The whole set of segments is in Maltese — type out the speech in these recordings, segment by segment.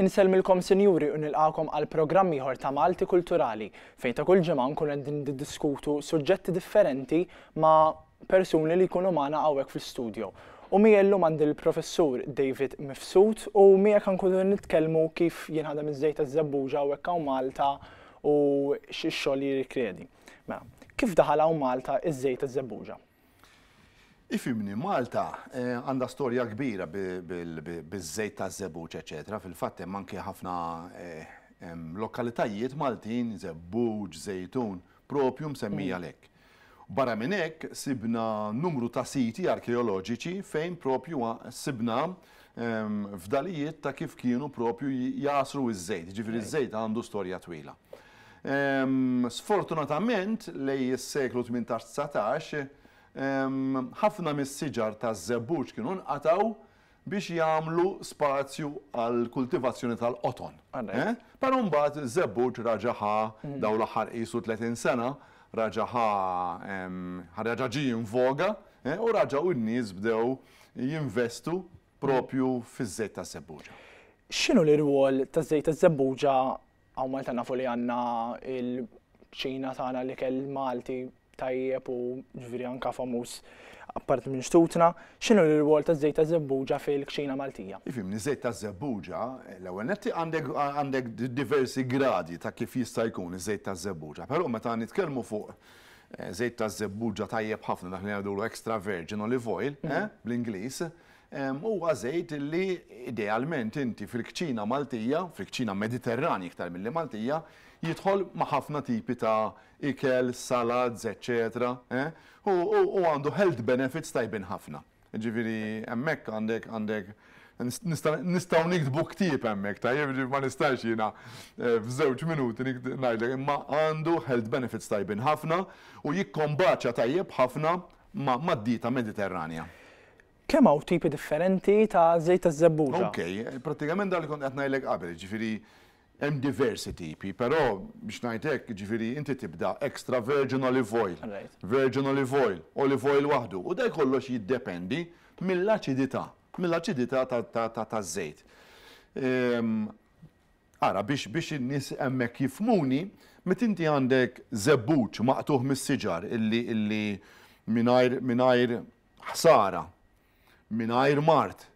Insellmilkom Sinjuri u nilqagħkom għal programm ieħor ta' Malti Kulturali fejn ta' kull ġimgħa nkunu qegħdin niddiskutu suġġetti differenti ma' persuni li jkunu magħna hawnhekk fl-istudio. U miegħi llum għandi l-Professur David Mifsud u miegħek ħankunu qed nitkellmu kif jinħadem iż-żejt taż-żebbuġa hawnhekk hawn Malta u x'xogħol jirrikjedi. Mela, kif daħal hawn Malta iż-żejt taż-żebbuġa? Ifhimni, Malta għandha storja kbira biż-żejt taż-żebbuġ eċċetera, fil-fatt hemm anki ħafna lokalitajiet Maltin, Żebbuġ, Żejtun, proprju msemmija għalhekk. Barra minn hekk sibna numru ta' siti arkeoloġiċi fejn proprju sibna fdalijiet ta' kif kienu proprju jagħsru ż-żejt, jiġifieri ż-żejt għandu storja twila. Sfortunatament lejn is-seklu tmintax dsatax ħafna mis-siġar taż-żebbuġ kienu nqatgħu biex jagħmlu spazju għall-kultivazzjoni tal-qoton. Però mbagħad ż-żebbuġ raġa' ħa dawn l-aħħar qisu tletin sena, raġa' ħa reġa' ġie in voga u raġa' u n-nies bdew jinvestu propju fiż-żejt taż-żebbuġa. X'inhu l-irwol taż-żejt taż-żebbuġa hawn Malta nafu li għandna l-ċina tagħna l-ikel Malti tajjeb u ġifieri anke famuż apparti minn xtutna, x'inhu l-irwol taż-żejt taż-żebbuġa fil-kċina Maltija? Ifhimni, żejt taż-żebbuġa, l-ewwel nett għandek diversi gradi ta' kif jista' jkun iż-żejt taż-żebbuġa, però meta nitkellmu fuq żejt taż-żebbuġa tajjeb ħafna dak li ngħidulu extra virgin olive oil, bl-Ingliż, huwa żejt li idealment inti fil-kċina Maltija, fil-kċina Mediterranja iktar milli Maltija, jidħol ma' ħafna tipi ta' ikel, salads, eċċetera, u għandu health benefits tajbin ħafna. Jiġifieri hemmhekk għandek, għandek, nista', nistgħu niktbu ktieb hemmhekk, tajjeb, jiġifieri ma nistax jiena f'żewġ minuti ngħidlek, imma għandu health benefits tajbin ħafna u jikkombaċja tajjeb ħafna mad-dieta Mediterranja. Kemm hawn tipi differenti ta' żejt taż-żebbuġa? Okej, prattikament dak li kont qed ngħidlek qabel, jiġifieri Hemm diversi tipi, però biex ngħid hekk, jiġifieri inti tibda extra virgin olive oil, virgin olive oil, olive oil waħdu, u dan kollox jiddependi mill-aċidità, mill-aċidità taż-żejt. Ara, biex in-nies hemmhekk jifhmuni, meta inti għandek żebbuġ maqtugħ mis-siġar illi mingħajr ħsara mingħajr mard,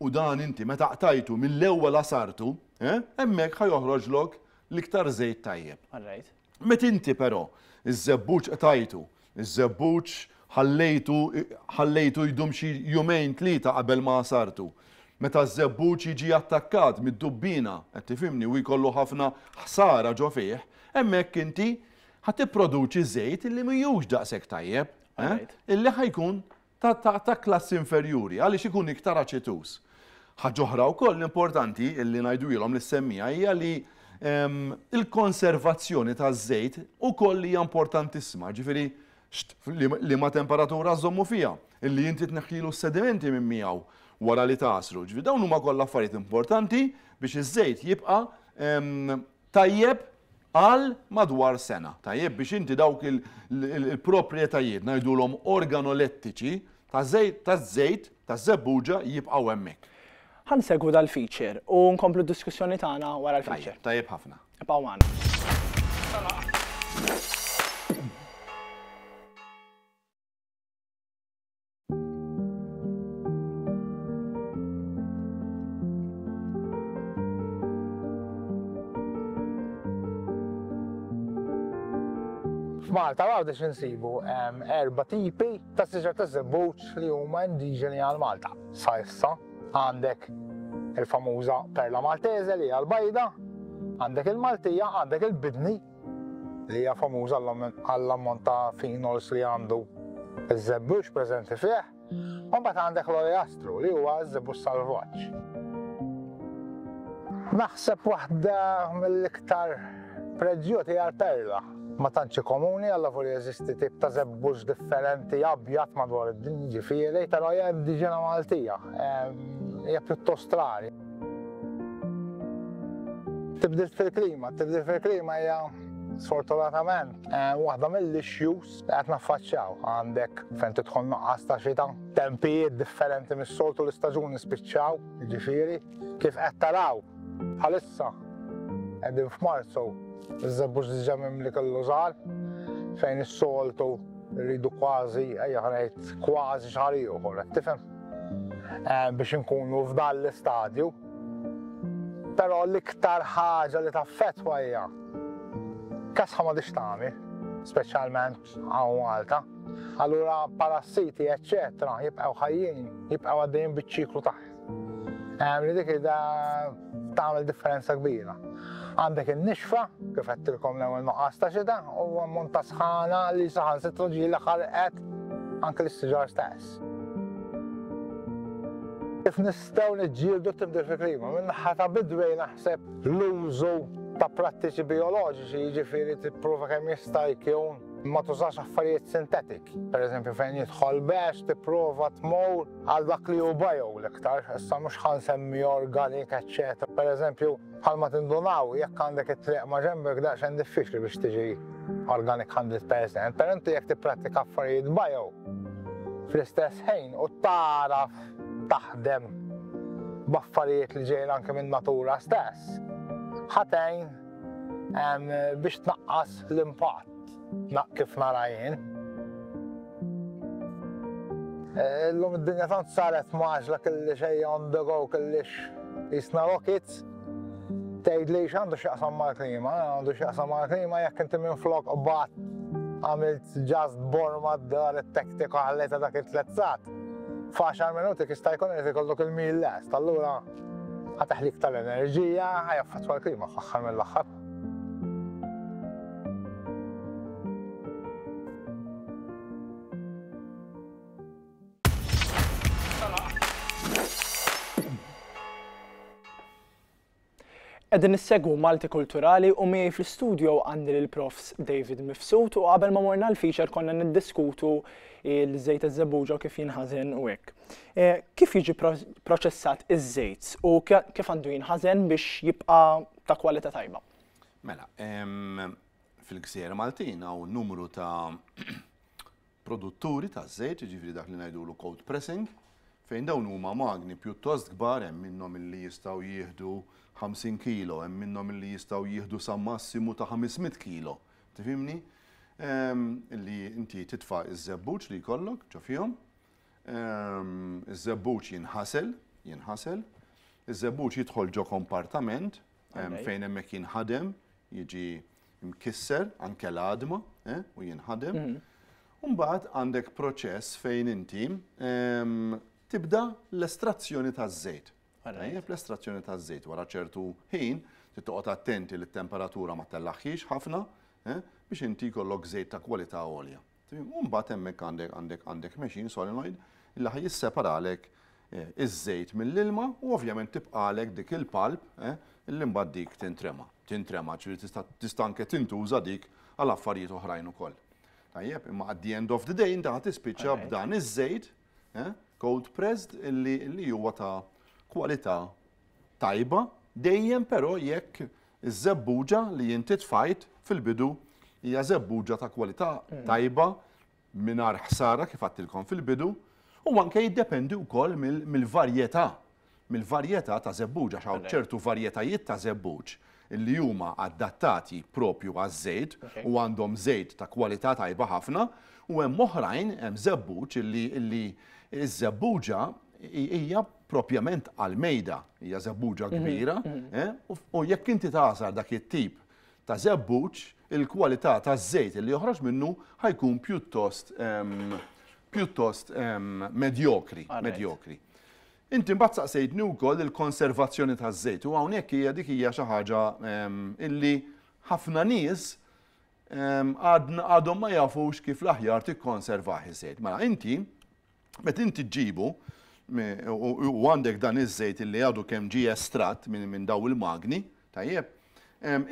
u dan inti meta qtajtu mill-ewwel għasartu, hemmhekk ħa joħroġlok l-iktar żejt tajjeb. Meta inti però ż-żebbuġ qtajtu, iż-żebbuġ ħallejtu ħallejtu jdum xi jumejn tlieta qabel ma għasartu, meta ż-żebbuġ jiġi attakkat mid-dubbiena, qed tifhimni, u jkollu ħafna ħsara ġo fih, hemmhekk inti ħa tipproduċi żejt li mhijiex daqshekk tajjeb, illi ħa jkun ta' klassi inferjuri għaliex ikun iktar aċetuż. Ħaġa oħra wkoll importanti li ngħiduhielhom lis-semmiegħa hija li l-konservazzjoni taż-żejt ukoll hija importantissima, jiġifieri liema temperatura żżommu fiha, li inti tneħħilu s-sedimenti minn miegħu wara li tagħsru. Ġifieri dawn huma kollha affarijiet importanti biex iż-żejt jibqa' Tajjeb għal madwar sena. Tajjeb biex inti dawk il-proprjetajiet ngħidulhom organolettiċi taż-żejt taż-żebbuġa jibqgħu hemmhekk. Ħa nsegwu dal-feature u nkomplu d-diskussjoni tagħna wara l-feature. Tajjeb ħafna. Ibqgħu magħna. F'Malta għawda xinsibu erba tipi ta' siġar ta' zebbuċ li huma indiġeni għal Malta. Sa issa għandek il-famuża perla maltese li għal bajda, għandek il-Maltija, għandek il-bidni li hija famuża għall-ammont ta' phenols li għandu iż-żebbux preżenti fih, u mbagħad għandek l-oleastru li huwa ż-żebbux salvaġġ. Naħseb waħda mill-iktar preġġjuti hija l-perla. Ma tantx komuni għal lavur jeżisti tip ta' żebbux differenti abjad madwar id-dinja ġifieri, però hija indiġena Maltija, hija pjuttost rari. Tibdil fil-klima, tibdil fil-klima hija sfortunatament, eh, waħda mill-issues li qed naffaċċjaw għandek fejn tidħol noqqas ta' xita, tempijiet differenti mis-soltu l-istaġuni spiċċaw, ġifieri, kif qed taraw bħalissa qegħdin f'Marzu iż-żebbux diġà mimli kellu żgħar fejn is-soltu rridu kważi ejja ħanejt kważi xahar ieħor, tifhem? Eh, biex inkunu f'dan l-istadju. Però l-iktar ħaġa li taffetwa hija kasħa ma tagħmel, speċjalment għaw Malta. Allura parassiti, eccetera, jibqgħu ħajjin, jibqgħu għaddejjin biċ-ċiklu tagħhom. Eh, li dik ida tagħmel differenza kbira. Għandek in-nixfa, kif qedtilkom l-ewwel nuqqas ta' xita, u ammont ta' sħana li saħan sitru ġieli ħarqet anke l-istiġar stess. Kif nistgħu niġġieldu t-tibdil fil-klima? Min-naħa ta' bidwejn naħseb l-użu ta' prattiċi bioloġiċi jiġifieri tipprova kemm jista' jkun ma tużax affarijiet sintetik. Per eżempju fejn jidħol bex tipprova tmur għal dak li hu bio l-iktar, issa mhux ħan semmi organic, eċċetera. Per eżempju, Bħalma tindunaw, jekk għandek it-triq ma' ġenbek daqsxejn diffiċli biex tiġi organic hundred percent, però inti jekk tipprattika affarijiet bio fl-istess ħin u tagħraf taħdem b'affarijiet li ġejjin anke min-natura stess, ħa tgħin biex tnaqqas l-impatt. Naq kif nara jien. Eh, L-lum id-dinja tant saret maġla kelli xej on the go kellix jisna rockets. Tgħid li għandu x'jaqsam mal-klima, għandu x'jaqsam mal-klima jekk inti minn flok qbad għamilt just borma d-dar it-tektika ħallejta dak it-tlezzat. F'għaxar minuti kista jkun qed ikollok il-mil lest, allura ħataħlik tal-enerġija, ħajaffatwa l-klima fl-aħħar mill-aħħar. Qegħdin nissegwu Malti Kulturali u miegħi fl-istudio għandi l profs David Mifsud u qabel ma morna l-feature konna niddiskutu l-żejt iż-żebuġa kif jinħażen u hekk. E, kif jiġi proċessat iż-żejt u kif għandu jinħażen biex jibqa' ta' kwalità tajba. Mela, fil-gżejjer Maltin hawn numru ta' produtturi ta' żejt, jiġifieri dak li ngħidulu cold pressing, fejn dawn huma magni pjuttost kbar hemm minnhom illi jistgħu jieħdu 50 kilo, hemm minnhom illi jistgħu jieħdu sa massimu ta' 500 kilo. Tifhimni? Illi inti titfa' iż-żebbuġ li jkollok ġo fihom, Iż-żebbuġ jinħasel, jinħasel. Iż-żebbuġ jidħol ġo kompartament fejn hemmhekk jinħadem, jiġi mkisser anke l-għadma eh, u jinħadem. Mhm. Mbagħad għandek proċess fejn inti tibda l-estrazzjoni taż-żejt. L-estrazzjoni taż-żejt wara ċertu ħin tittoqgħod attenti li t-temperatura ma tellaħħiex ħafna eh, biex inti jkollok żejt ta' kwalità għolja. U mbagħad hemmhekk għandek għandek għandek machine solenoid li ħa jisseparalek iż-żejt mill-ilma u ovvjament tibqalek dik il-pulp li mbagħad dik tintrema. Tintrema ġifieri tista' tista' anke tintuża dik għal affarijiet oħrajn ukoll. Tajjeb, imma at the end of the day inti ħa tispiċċa b'dan iż-żejt Eh? Cold pressed li, li huwa ta' kwalità tajba, dejjem però jekk iż-żebbuġa li inti tfajt fil-bidu hija żebbuġa ta' kwalità hmm. tajba mingħajr ħsara kif għattilkom fil-bidu u anke jiddependi wkoll mill-varjetà mill-varjetà ta' żebbuġ għax hawn ċertu varjetajiet ta' żebbuġ li huma adattati proprju għaż-żejt u għandhom żejt ta' kwalità tajba ħafna u hemm oħrajn, hemm żebbuġ li li ż-żebbuġa hija proprjament għall-mejda, hija żebbuġa kbira u jekk inti tagħżar dak it-tip ta' żebbuġ, il-kwalità taż-żejt li joħroġ minnu ħa jkun pjuttost pjuttost medjokri, medjokri. Inti mbagħad saqsejtni wkoll il-konservazzjoni taż-żejt u hawnhekk hija dik hija xi ħaġa illi ħafna nies għadhom ma jafux kif l-aħjar tikkonservah iż-żejt. Mela inti meta inti ġġibu u għandek dan iż-żejt illi għadu kemm ġie estratt minn dawn il-magni, tajjeb,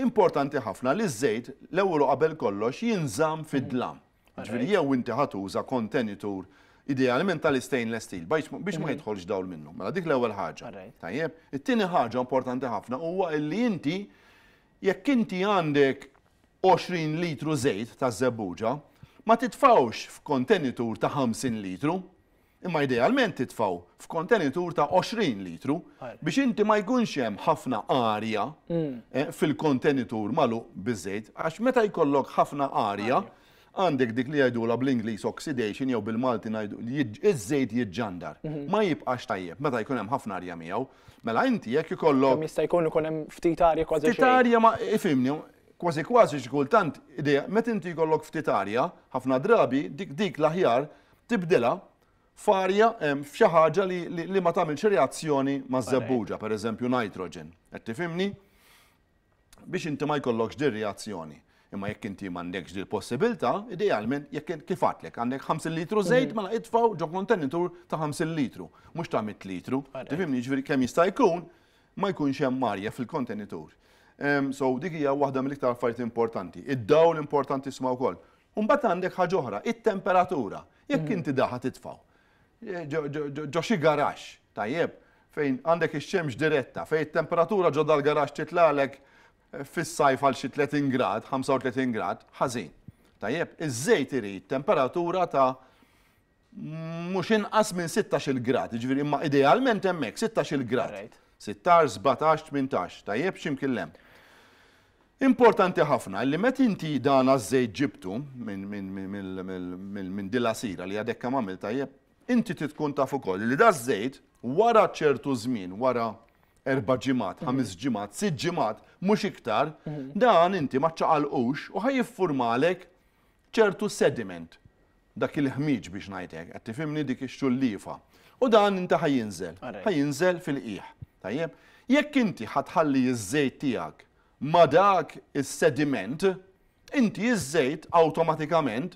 importanti ħafna li ż-żejt l-ewwel u qabel kollox jinżamm fid-dlam. Ġifieri jew inti ħa tuża kontenitur idealment tal-istainless steel biex ma mhm. jidħolx dawl minnu. Mela dik l-ewwel ħaġa. Tajjeb. It-tieni ħaġa importanti ħafna huwa illi inti jekk inti għandek 20 litru żejt ta' żebbuġa, ma titfawx f'kontenitur ta' 50 litru. Imma idealment titfgħu f'kontenitur ta' 20 litru biex inti ma jkunx hemm ħafna arja fil-kontenitur magħluq biż-żejt għax meta jkollok ħafna arja għandek dik li jgħidulha bl-Ingliż oxidation jew bil-Malti ngħidu iż-żejt jiġġandar. Ma jibqax tajjeb meta jkun hemm ħafna arja miegħu. Mela inti jekk ikollok. Kemm jista' jkun ikun hemm ftit arja kważi xejn. Ftit arja ma ifhimni, kważi kważi xi kultant meta inti jkollok ftit arja ħafna drabi dik dik l-aħjar tibdilha f'arja, f'xi ħaġa li ma tagħmilx reazzjoni maż-żebbuġa, pereżempju nitrogen, qed tifhimni? Biex inti ma jkollokx din reazzjoni. Imma jekk inti m'għandekx din possibilità, idealment jekk kif għatlek għandek 50 litru żejt mela itfgħu ġo kontenitur ta' 50 litru, mhux ta' 100 litru. Tifhimni ġifieri kemm jista' jkun ma jkunx hemm arja fil-kontenitur. So dik hija waħda mill-iktar affarijiet importanti. Id-dawl importanti sma' wkoll. U mbagħad għandek ħaġa oħra, it-temperatura. Jekk inti da ħa titfgħu ġo xi garaxx, tajjeb, fejn għandek ix-xemx diretta, fejn it-temperatura ġo dal-garaxx titlagħlek fis-sajf għal xi 30 grad, 35 grad, ħażin. Tajjeb, iż-żejt irid temperatura ta' mhux inqas minn 16-il grad, jiġifieri imma idealment hemmhekk 16-il grad. 16, 17, 18, tajjeb x'imkien hemm. Importanti ħafna li met inti dan għaż-żejt ġibtu minn dila sira li għadek kemm għamil tajjeb, inti tkun taf ukoll li da żejt wara ċertu żmien, wara erba' ġimgħat, mhm. ħames ġimgħat, sitt ġimgħat, mhux iktar, mhm. dan inti ma ċċaqalqux u ħaj jiffurmalek ċertu sediment, dak il-ħmieġ biex ngħid hekk, qed tifhimni, dik ix-xullifa. U dan inti ħa jinżel, ħa jinżel fil-qiegħ. Tajjeb? Jekk inti ħa tħalli ż-żejt tiegħek ma' dak is-sediment, inti ż-żejt awtomatikament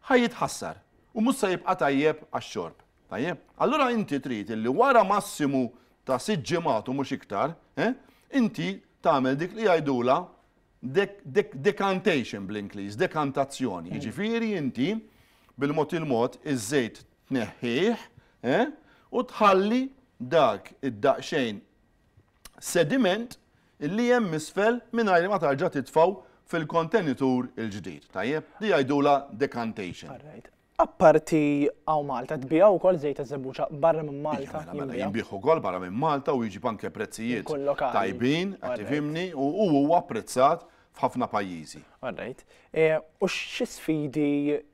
ħa jitħassar u mhux se jibqa' tajjeb għax-xorb. Tajjeb? Allura inti trid illi wara massimu ta' sitt ġimgħat u mhux iktar, eh, inti tagħmel dik li jgħidulha Decantation bl-Ingliż, dekantazzjoni, jiġifieri inti bil-mod il-mod iż-żejt tneħħih u tħalli dak id-daqsxejn sediment li hemm isfel mingħajr ma tarġa' titfgħu fil-kontenitur il-ġdid, tajjeb? Di jgħidulha decantation. Apparti għaw Malta, tbija u kol zejt eżebuċa barra minn Malta. Mela, mela, jimbiħ u kol barra minn Malta u jġib anke prezzijiet. Tajbin, għatifimni, u u apprezzat f'ħafna pajjiżi. Għarrejt. E, u xi sfidi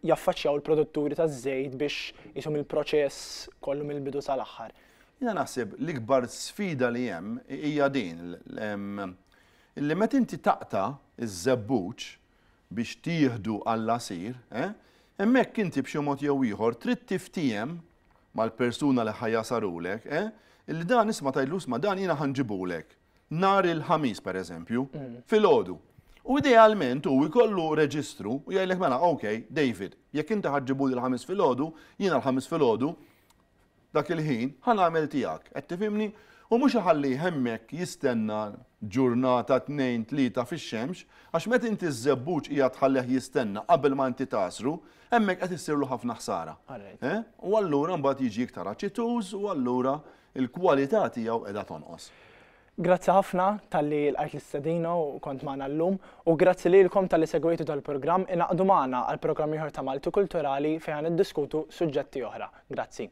jaffaċċjaw il-produtturi ta' żejt biex jisum il-proċess kollu mill-bidu sal-aħħar? Jina naħseb l-ikbar sfida li hemm hija din li meta inti taqta iż-żebbuġ biex tieħdu għall-għasir, eh? Hemmhekk inti b'xi mod jew ieħor trid tiftiehem mal-persuna li ħa jagħsarulek, eh? Illi dan isma' tgħidlu isma' dan jiena ħa nġibulek nhar il-Ħamis pereżempju, filgħodu. U idealment hu jkollu reġistru u jgħidlek mela, okay, David, jekk inti ħa ġġibuli l-Ħamis filgħodu, jiena l-Ħamis filgħodu Dak il-ħin, ħa nagħmel tiegħek. Qed tifhimni? U mhux iħallih hemmhekk jistenna ġurnata, tnejn, tlieta fix-xemx, għax meta inti ż-żebbuġ qiegħed tħallih jistenna qabel ma inti tagħsru, hemmhekk qed issirlu ħafna ħsara. U allura mbagħad jiġi iktar aċituż u allura l-kwalità tiegħu qiegħda tonqos. Grazzi ħafna talli lqajt l-istedina u kont magħna llum, u grazzi lilkom talli segwejtu dal-programm, ingħaqdu magħna għal programm ieħor ta' Malti Kulturali fejn ħa niddiskutu suġġetti oħra. Grazzi.